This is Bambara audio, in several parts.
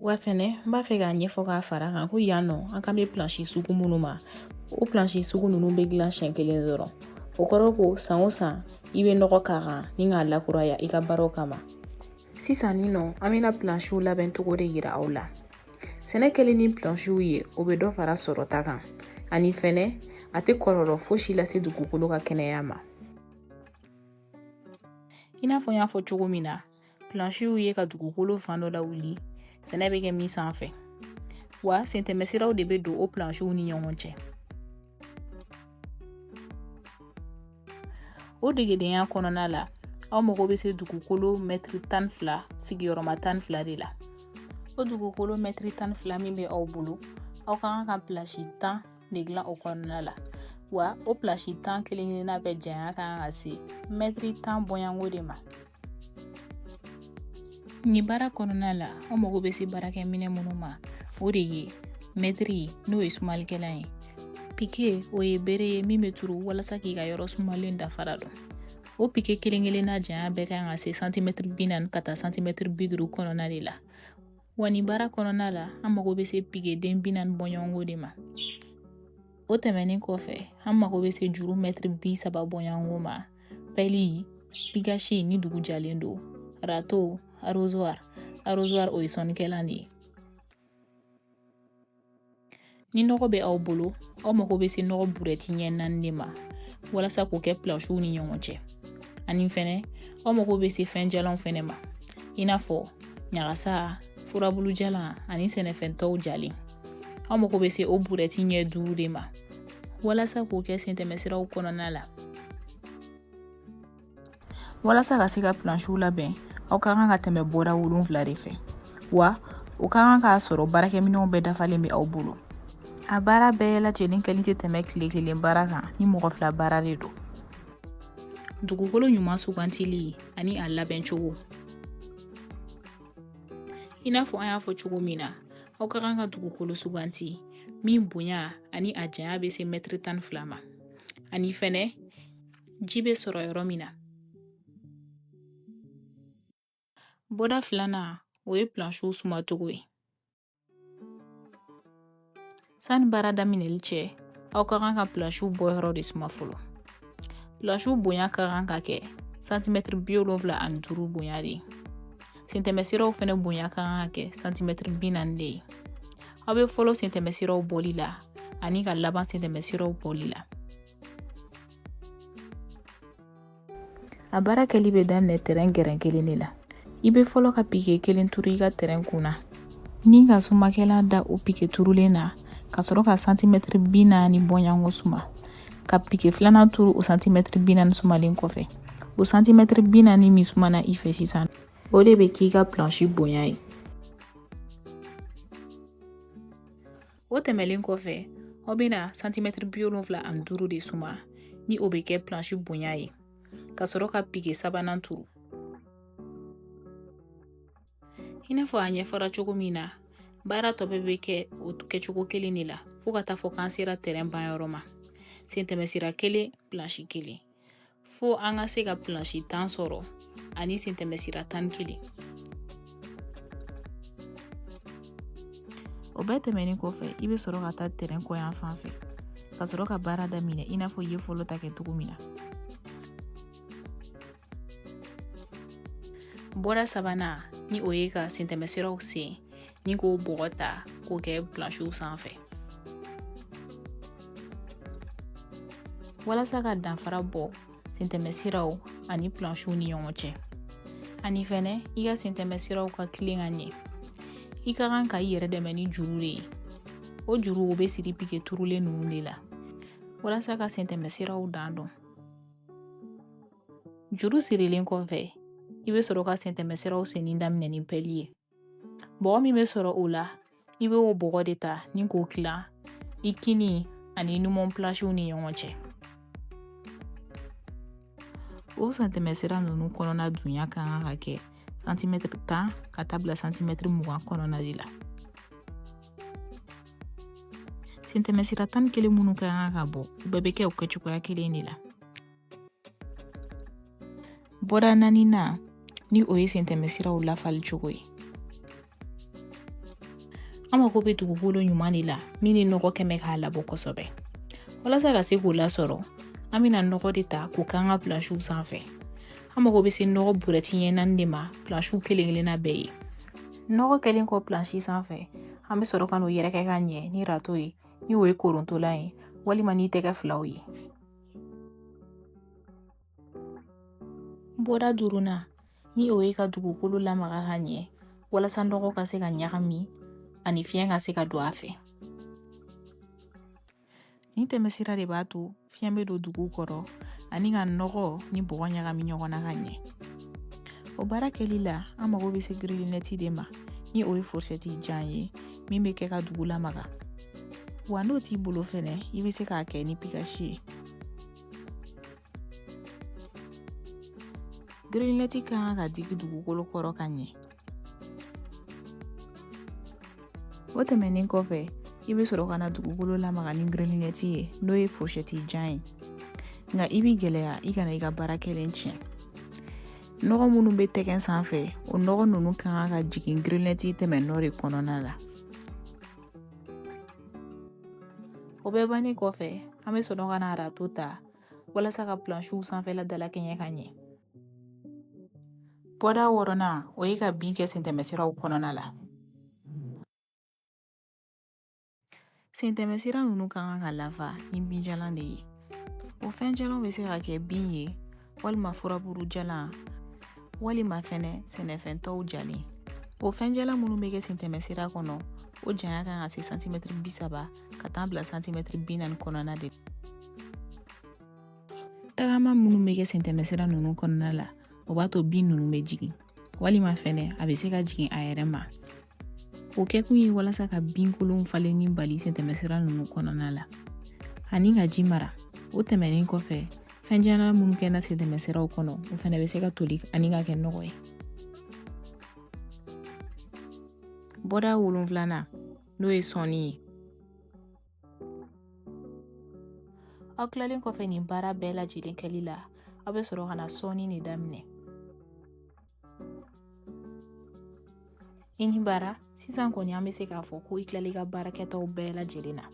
wa fɛnɛ n b'a fɛ k'a ɲɛfɔ k'a fara kan ko yan nɔ an kan bɛ pilansi sugu minnu ma o pilansi sugu ninnu bɛ dilan siɲɛ kelen dɔrɔn o kɔrɔ ko san o san i bɛ nɔgɔ k'a kan ni k'a lakuraya i ka baaraw kama sisan nin nɔ an bɛna pilansiw labɛn cogo de yira aw la sɛnɛ kɛlen ni pilansiw ye o bɛ dɔ fara sɔrɔta kan ani fɛnɛ a tɛ kɔlɔlɔ fosi lase dugukolo ka kɛnɛya ma i n'a fɔ n y'a fɔ cogo min na pilansiw ye ka dugukolo fan dɔ lawuli sɛnɛ bɛ kɛ min sanfɛ wa sentɛmɛsiraw de bɛ don o pilansiw ni ɲɔgɔn cɛ o degedenya kɔnɔna la aw mago bɛ se dugukolo mɛtiri tan ni fila sigiyɔrɔma tan ni fila de la o dugukolo mɛtiri tan ni fila min bɛ aw bolo aw ka kan ka pilansi tan de dilan o kɔnɔna la wa o pilansi tan kelen kelenna bɛɛ janya ka kan ka se mɛtiri tan bɔɲɔgɔnko de ma nin baara kɔnɔna la an mago bɛ se baarakɛminɛ minnu ma o de ye mɛtiri n'o ye sumalikɛlan ye pike o ye bere ye min bɛ turu walasa k'i ka yɔrɔ sumalen dafara dɔn o pike kelen kelenna janya bɛɛ ka kan ka se santimɛtiri bi naani ka taa santimɛtiri bi duuru kɔnɔna de la wa nin baara kɔnɔna la an mago bɛ se pikeden bi naani bɔɲɔgɔnko de ma o tɛmɛnen kɔfɛ an mago bɛ se juru mɛtiri bi saba bɔɲɔgɔnko ma pɛli pikasi ni dugu jalen don arato arozwari arozwari o ye sɔnnikɛlan de ye ni nɔgɔ bɛ aw bolo aw mago bɛ se nɔgɔ burɛti ɲɛ naani de ma walasa k'o kɛ pilansiw ni ɲɔgɔn cɛ ani fɛnɛ aw mago bɛ se fɛn jalanw fɛnɛ ma i n'a fɔ ɲagasa furabulu jalan ani sɛnɛfɛn tɔw jalen aw mago bɛ se o burɛti ɲɛ duuru de ma walasa k'o kɛ sentɛmɛsiraw kɔnɔna la walasa ka se ka pilansiw labɛn aw ka kan ka tɛmɛ bɔda wolonfila de fɛ wa o ka kan k'a sɔrɔ baarakɛminɛw bɛɛ dafalen bɛ aw bolo a baara bɛɛ lajɛlen kɛli tɛ tɛmɛ tile kelen baara kan ni mɔgɔ fila baara de don dugukolo ɲuman sugantili ani a labɛn cogo i n'a fɔ an y'a fɔ cogo min na aw ka kan ka dugukolo suganti min bonya ani a janya bɛ se mɛtiri tan ni fila ma ani fɛnɛ ji bɛ sɔrɔ yɔrɔ min na bɔda filanan o ye pilansiw suma cogo ye sani baara daminɛli cɛ aw ka kan ka pilansiw bɔ yɔrɔ de suma fɔlɔ pilansiw bonya ka kan ka kɛ santimɛtiri bi wolonfila ani duuru bonya de ye sentɛmɛsiraw fɛnɛ bonya kan ka kɛ santimɛtiri bi naani de ye aw bɛ fɔlɔ sentɛmɛsiraw bɔli la ani ka laban sentɛmɛsiraw bɔli la a baara kɛli bɛ daminɛ tɛrɛn gɛrɛn kelen de la i bɛ fɔlɔ ka pike kelen turu i ka tɛrɛn kun na ni ka sumakɛla da o pike turulen na ka sɔrɔ ka santimɛtiri bi naani bɔɲɔgɔnko suma ka pike filanan turu o santimɛtiri bi naani sumalen kɔfɛ o santimɛtiri bi naani min sumana i fɛ sisan o de bɛ k'i ka plansi bonya ye o tɛmɛlen kɔfɛ aw bɛna santimɛtiri bi wolonfila ani duuru de suma ni o bɛ kɛ plansi bonya ye ka sɔrɔ ka pike sabanan turu i n'a fɔ a ɲɛfɔra cogo min na baara tɔ bɛɛ bɛ kɛ o kɛcogo kelen de la fo ka taa fɔ k'an sera tɛrɛn banyɔrɔ ma sentɛmɛsira kelen plansi kelen fo an ka se ka plansi tan sɔrɔ ani sentɛmɛsira tan ni kelen o bɛɛ tɛmɛnen kɔfɛ i bɛ sɔrɔ ka taa tɛrɛn kɔ yan fan fɛ ka sɔrɔ ka baara daminɛ i n'a fɔ i ye fɔlɔ ta kɛ cogo min na bɔda sabanan ni o ye ka sentɛmɛsiraw sen ni k'o bɔgɔ ta k'o kɛ plansiw sanfɛ walasa ka danfara bɔ sentɛmɛsiraw ani plansiw ni ɲɔgɔn cɛ ani fɛnɛ i ka sentɛmɛsiraw ka tilen ka ɲɛ i ka kan ka i yɛrɛ dɛmɛ ni juru de ye o juru o bɛ siri pike turulen ninnu de la walasa ka sentɛmɛsiraw dan dɔn Juru sirilen kɔfɛ i bɛ sɔrɔ ka sentɛmɛsiraw senni daminɛ ni pɛli ye bɔgɔ min bɛ sɔrɔ o la i bɛ o bɔgɔ de ta ni k'o tila i kini ani numan plansiw ni ɲɔgɔn cɛ o sentɛmɛsira ninnu kɔnɔna dunya ka kan ka kɛ santimɛtiri tan ka taa bila santimɛtiri mugan kɔnɔna de la sentɛmɛsira tan ni kelen minnu ka kan ka bɔ u bɛɛ bɛ kɛ o kɛcogoya kelen de la bɔda naaninan ni o ye sentɛmɛsiraw lafali cogo ye an mako bɛ dugukolo ɲuman de la min ni nɔgɔ kɛmɛ k'a labɔ kosɛbɛ walasa ka se k'o lasɔrɔ an bɛna nɔgɔ de ta k'o k'an ka plansiw sanfɛ an mago bɛ se nɔgɔ burɛti ɲɛ naani de ma plansiw kelen kelenna bɛɛ ye nɔgɔ kɛlen kɔ plansi sanfɛ an bɛ sɔrɔ ka n'o yɛrɛkɛ ka ɲɛ ni rato ye ni o ye korontolan ye walima ni tɛgɛ filaw ye bɔda duurunan ni o ye ka dugukolo lamaga ka ɲɛ walasa nɔgɔ ka se ka ɲagami ani fiɲɛ ka se ka don a fɛ nin tɛmɛsira de b'a to fiɲɛ bɛ don dugu kɔrɔ ani ka nɔgɔ ni bɔgɔ ɲagami ɲɔgɔn na ka ɲɛ o baara kɛli la an mago bɛ se girilinɛti de ma ni o ye forsɛti jan ye min bɛ kɛ ka dugu lamaga wa n'o t'i bolo fɛnɛ i bɛ se k'a kɛ ni pikasi ye Grinɛti ka kan ka digi dugukolo kɔrɔ ka ɲɛ o tɛmɛnen kɔfɛ i bɛ sɔrɔ ka na dugukolo lamaga ni grinɛti ye n'o ye forsɛti jan ye nka i b'i gɛlɛya i kana i ka baara kɛlen tiɲɛ nɔgɔ minnu bɛ tɛgɛ sanfɛ o nɔgɔ ninnu ka kan ka jigin grinɛti tɛmɛnɔ de kɔnɔna la o bɛɛ bannen kɔfɛ an bɛ sɔrɔ ka na arato ta walasa ka plansiw sanfɛla dalakɛɲɛ ka ɲɛ bɔda wɔɔrɔnan o ye ka bin kɛ sentɛmɛsiraw kɔnɔna la sentɛmɛsira ninnu ka kan ka lafa ni binjalan de ye o fɛnjalanw bɛ se ka kɛ bin ye walima furaburu jalan walima fɛnɛ sɛnɛfɛn tɔw jalen o fɛnjalan minnu bɛ kɛ sentɛmɛsira kɔnɔ o janya kan ka se santimɛtiri bi saba ka taa bila santimɛtiri bi naani kɔnɔna de tagama minnu bɛ kɛ sentɛmɛsira ninnu kɔnɔna la o b'a to bin ninnu bɛ jigin walima fɛnɛ a bɛ se ka jigin a yɛrɛ ma o kɛkun ye walasa ka binkolonw falenni bali sentɛmɛsira ninnu kɔnɔna la ani ka ji mara o tɛmɛnen kɔfɛ fɛnjalan minnu kɛna sentɛmɛsiraw kɔnɔ o fɛnɛ bɛ se ka toli ani ka kɛ nɔgɔ ye bɔda wolonfilana n'o ye sɔnni ye aw tilalen kɔfɛ nin baara bɛɛ lajɛlen kɛli la aw bɛ sɔrɔ ka na sɔnni de daminɛ i ni baara sisan kɔni an bɛ se k'a fɔ ko i tilala i ka baara kɛtaw bɛɛ lajɛlen na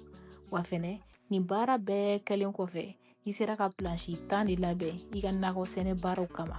wa fɛnɛ nin baara bɛɛ kɛlen kɔfɛ i sera ka plansi tan de labɛn i ka nakɔ sɛnɛ baaraw kama